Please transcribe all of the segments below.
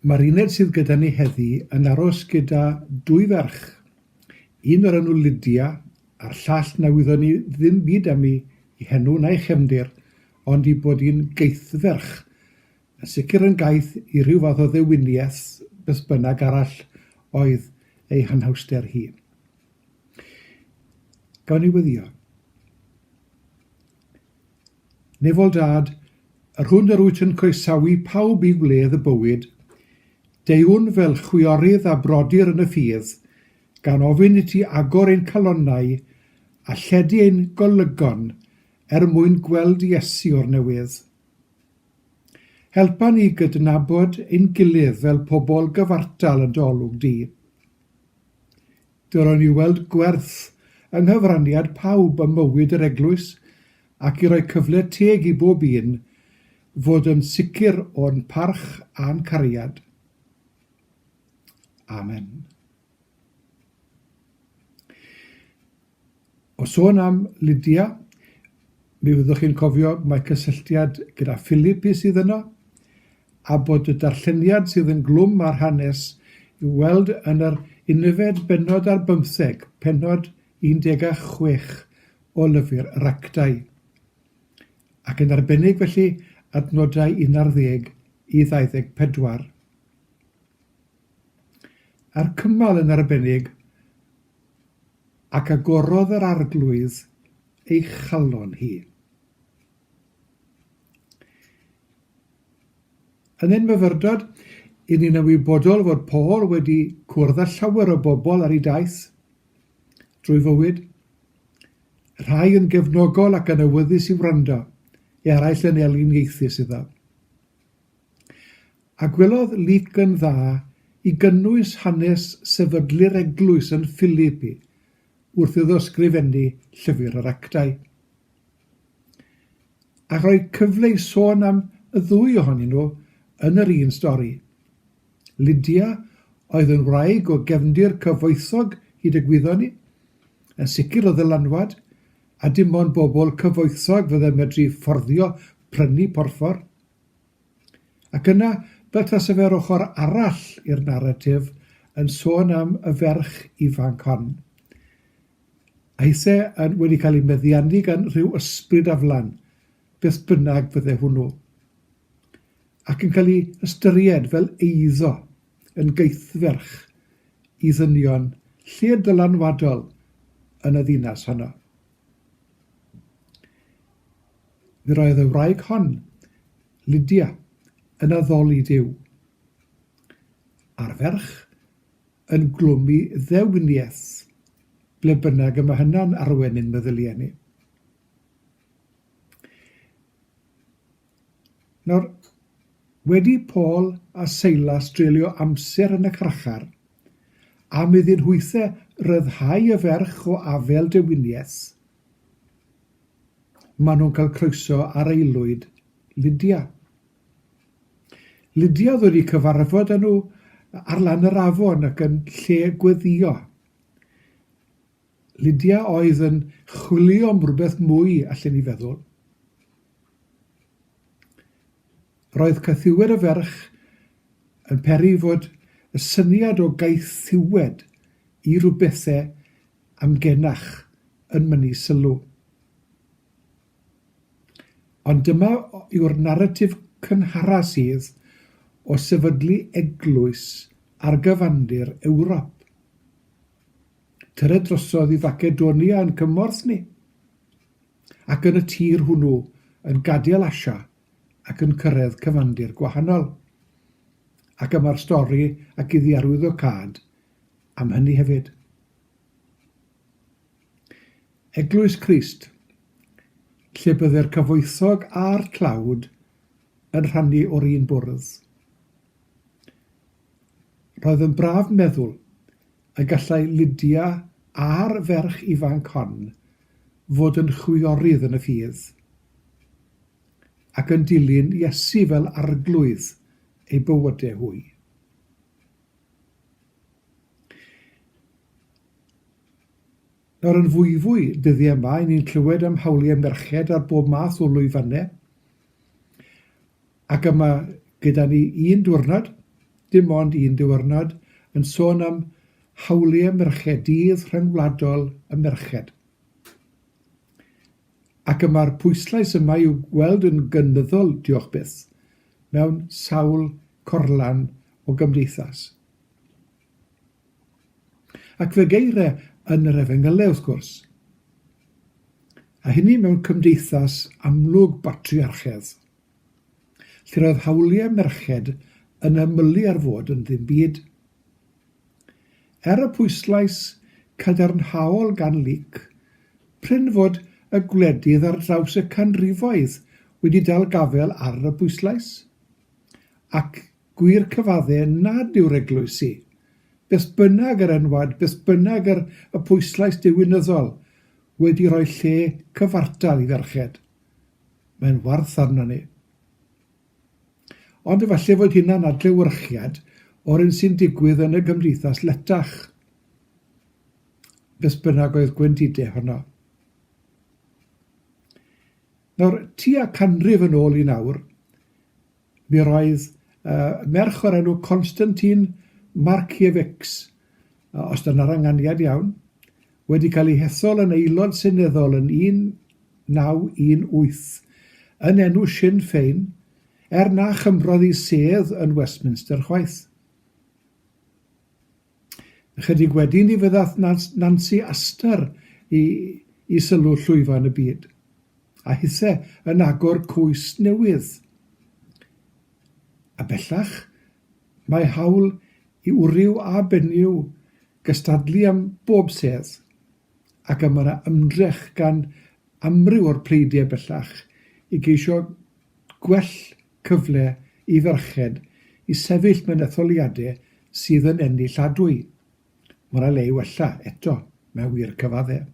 Mae'r uned sydd gyda ni heddi yn aros gyda dwy ferch, un o'r enw Lydia a'r llall na wyddon ni ddim byd am i i henw na'i chefndir, ond i bod hi'n gaethferch. Yn sicr yn gaeth i ryw fath o ddewiniaeth beth bynnag arall oedd ei hanhawster hi. Gawn ni weddio. Nefol dad, yr hwn yr wyt yn coesawu pawb i wledd y bywyd, deuwn fel chwiorydd a brodyr yn y ffydd, gan ofyn i ti agor ein calonnau a lledu ein golygon er mwyn gweld Iesu o'r newydd. Helpa ni gydnabod ein gilydd fel pobl gyfartal yn dy olwg di. Dylwn i weld gwerth yng nghyfraniad pawb ym mywyd yr eglwys ac i roi cyfle teg i bob un fod yn sicr o'n parch a'n cariad. Amen. O sôn am Lydia, mi fyddwch chi'n cofio mae cysylltiad gyda Philip i sydd yno, a bod y darlleniad sydd yn glwm ar hanes i'w weld yn yr unfed bennod ar bymtheg pennod 16 o lyfr yr Actau, ac yn arbennig felly adnodau 11 i 24. A'r cymal yn arbennig Ac agorodd yr Arglwydd ei chalon hi. Yn ein myfyrdod, i ni'n ymwybodol fod Paul wedi cwrdd â llawer o bobl ar ei daith drwy fywyd, rhai yn gefnogol ac yn awyddus i wrando, eraill yn eliniaethus iddo. a gwelodd lîc yn dda i gynnwys hanes sefydlu'r eglwys yn Philipi wrth iddo ysgrifennu Llyfr yr Actau, a rhoi cyfle i sôn am y ddwy ohonyn nhw yn yr un stori. Lydia oedd yn wraig o gefndir cyfoethog hyd y gwyddon ni, yn sicr o ddylanwad, a dim ond bobl cyfoethog fydde medru fforddio prynu porffor. Ac yna, fel tase fe'r ochr arall i'r naratif yn sôn am y ferch ifanc hon, a'i se yn wedi cael ei meddiannu gan rhyw ysbryd aflan, beth bynnag fydde hwnnw, ac yn cael ei ystyried fel eiddo yn gaethferch i ddynion lled ddylanwadol yn y ddinas honno. Yr oedd y wraig hon, Lydia, yn addoli Duw, a'r ferch yn glwmu ddewniaeth, ble bynnag y mae hynna'n arwain ein meddyliau ni. Nawr, wedi Paul a Seilas dreulio amser yn y carchar, am iddyn nhwythau ryddhau y ferch o afel dewiniaeth, Maen nhw'n cael croeso ar aelwyd Lydia. Lydia oedd wedi cyfarfod â nhw ar lan yr afon ac yn lle gweddïo. Lydia oedd yn chwilio am rhywbeth mwy, allen ni feddwl. Roedd caethiwed y ferch yn peri fod y syniad o gaethiwed i rywbethau amgenach yn mynnu sylw. Ond dyma yw'r naratif cynhara sydd o sefydlu eglwys ar gyfandir Ewrop. Tyre drosodd i Facedonia yn cymorth ni, ac yn y tir hwnnw yn gadael Asia ac yn cyrraedd cyfandir gwahanol. Ac yma'r stori ac iddi arwyddo cad am hynny hefyd. Eglwys Crist, lle bydde'r cyfoethog a'r tlawd yn rhannu o'r un bwrdd. Roedd yn braf meddwl y gallai Lydia a'r ferch ifanc hon fod yn chwiorydd yn y ffydd, ac yn dilyn Iesu fel arglwydd eu bywydau hwy. Nawr yn fwyfwy dyddiau yma, y'n ni'n clywed am hawliau merched ar bob math o lwyfannau, ac yma gyda ni un diwrnod, dim ond un diwrnod, yn sôn am hawliau merched, Dydd Rhyngwladol y Merched. Ac y mae'r pwyslais yma i'w gweld yn gynyddol, diolch byth. mewn sawl corlan o gymdeithas. Ac fe geire yn yr Efengyle, wrth gwrs. A hynny mewn cymdeithas amlwg batriarchedd, lle roedd hawliau merched yn ymylu ar fod yn ddim byd. Er y pwyslais cadarnhaol gan Leek, prin fod y gwledydd ar draws y canrifoedd wedi dal gafael ar y pwyslais, ac gwir cyfadde nad yw'r eglwysi, beth bynnag yr enwad, beth bynnag yr y pwyslais diwinyddol, wedi rhoi lle cyfartal i ferched. Mae'n warth arnon ni. Ond efallai fod hynna'n adlewyrchiad o'r un sy'n digwydd yn y gymdeithas letach, beth bynnag oedd gwendidau honno. Nawr, tua canrif yn ôl i nawr, mi roedd uh, merch o'r enw Konstantin Markiewicz, uh, os dyna'r anganiad iawn, wedi cael ei hethol yn Aelod Seneddol yn 1918 yn enw Sinn Fein, er na chymrodd ei sedd yn Westminster chwaith. Ychydig wedyn ni fyddath Nancy Astor i, i sylw llwyfan y byd, a hithe yn agor cwys newydd. A bellach, Mae hawl i wryw a benyw gystadlu am bob sedd, ac y mae yna ymdrech gan amryw o'r pleidiau bellach i geisio gwell cyfle i ferched i sefyll mewn etholiadau sydd yn enilladwy. Mae yna le i wella, eto, mae wir cyfaddau.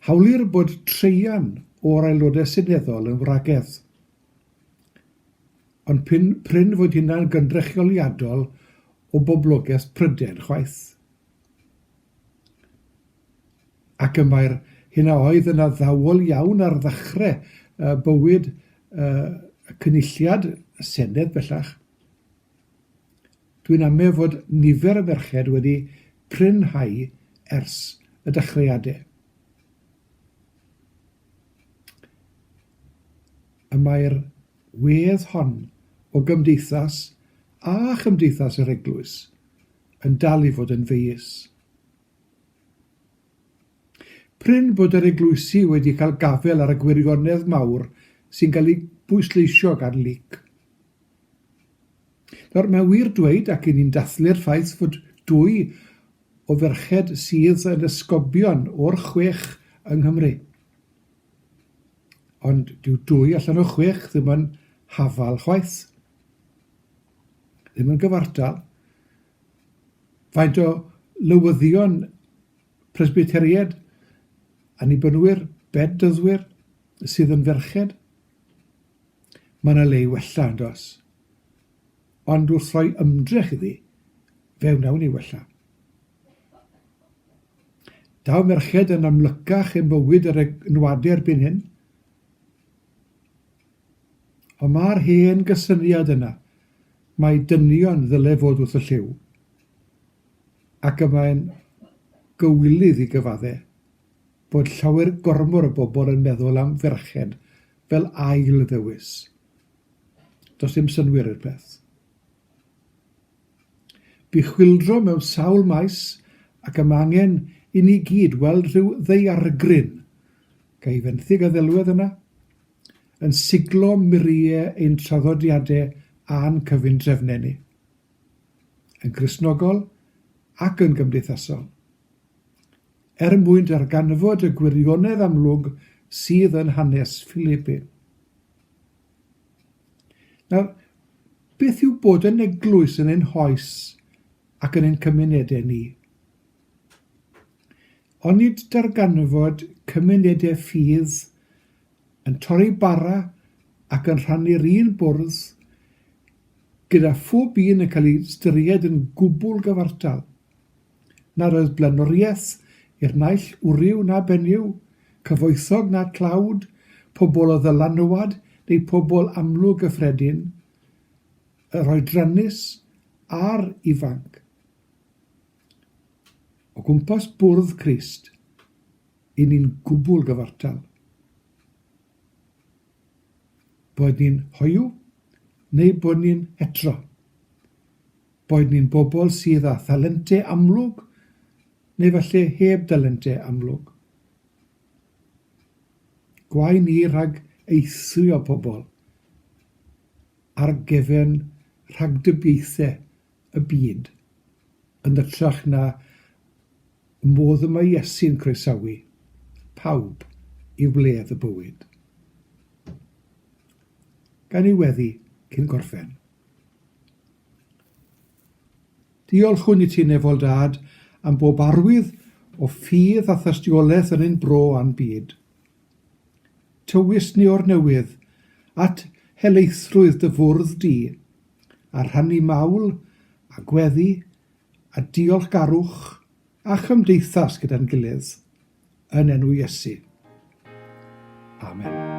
Hawlir bod traean o'r Aelodau Seneddol yn wragedd. Ond p'un prin fod hynna'n gynrychioliadol o boblogeth Prydain chwaith. Ac y mae'r hyn a oedd yn addawol iawn ar ddechrau uh, bywyd uh, y cynulliad, y Senedd bellach, dwi'n amau fod nifer y merched wedi prinhau ers y dechreuadau. Y mae'r wedd hon o gymdeithas a chymdeithas yr Eglwys yn dal i fod yn feyus. Prin bod yr Eglwysi wedi cael gafel ar y gwirionedd mawr sy'n cael ei bwysleisio gan Luc. Nawr, mae'n wir dweud, ac i ni'n dathlu'r ffaith fod dwy o ferched sydd yn esgobion o'r chwech yng Nghymru, ond dyw dwy allan o chwech ddim yn hafal chwaith, ddim yn gyfartal. Faint o lywyddion Presbyteriaid, Annibynwyr, Bedyddwyr, sydd yn ferched? Mae yna le i wella, yn does? Ond wrth roi ymdrech iddi, fe wnawn ni wella. Daw merched yn amlycach yn bywyd yr enwadau erbyn hyn. Ond mae'r hen gysyniad yna, mae dynion ddyle fod wrth y lliw. ac y mae'n gywilydd i gyfaddau bod llawer gormor o bobl yn meddwl am ferched fel ail ddewis. Does dim synnwyr i'r peth. Bu chwyldro mewn sawl maes ac y mae angen i ni gyd weld rhyw ddeiargryn, ga i fenthyg a ddelwedd yna, yn siglo muriau ein traddodiadau a'n cyfundrefnau ni. yn Gristnogol ac yn gymdeithasol. Er mwyn darganfod y gwirionedd amlwg sydd yn hanes Philippe. Nawr, beth yw bod yn eglwys yn ein hoes ac yn ein cymunedau ni? Onid darganfod cymunedau ffydd yn torri bara ac yn rhannu'r un bwrdd gyda phob un yn cael ei ystyried yn gwbl gyfartal. Nad oedd blaenoriaeth i'r naill wryw na benyw, cyfoethog na tlawd, pobl o ddylanwad neu pobl amlwg gyffredin, yr oedrannus a'r ifanc, o gwmpas bwrdd Crist. 'y ni'n gwbl gyfartal, boed ni'n hoyw neu bod ni'n hetero, boed ni'n bobl sydd â thalentau amlwg neu falle heb dalentau amlwg. Gwae ni rhag eithrio pobl ar gefn rhagdybiaethau y byd, yn hytrach na modd y mae Iesu'n croesawu pawb i wledd y bywyd. Gan ei weddi cyn gorffen. Diolch hwn i ti, Nefol Dad, am bob arwydd o ffydd a thystiolaeth yn ein bro a'n byd. Tywys ni o'r newydd at helaethrwydd dy fwrdd di, a rhannu mawl, a gweddi, a diolchgarwch, a chymdeithas gyda'n gilydd, yn enw Iesu. Amen.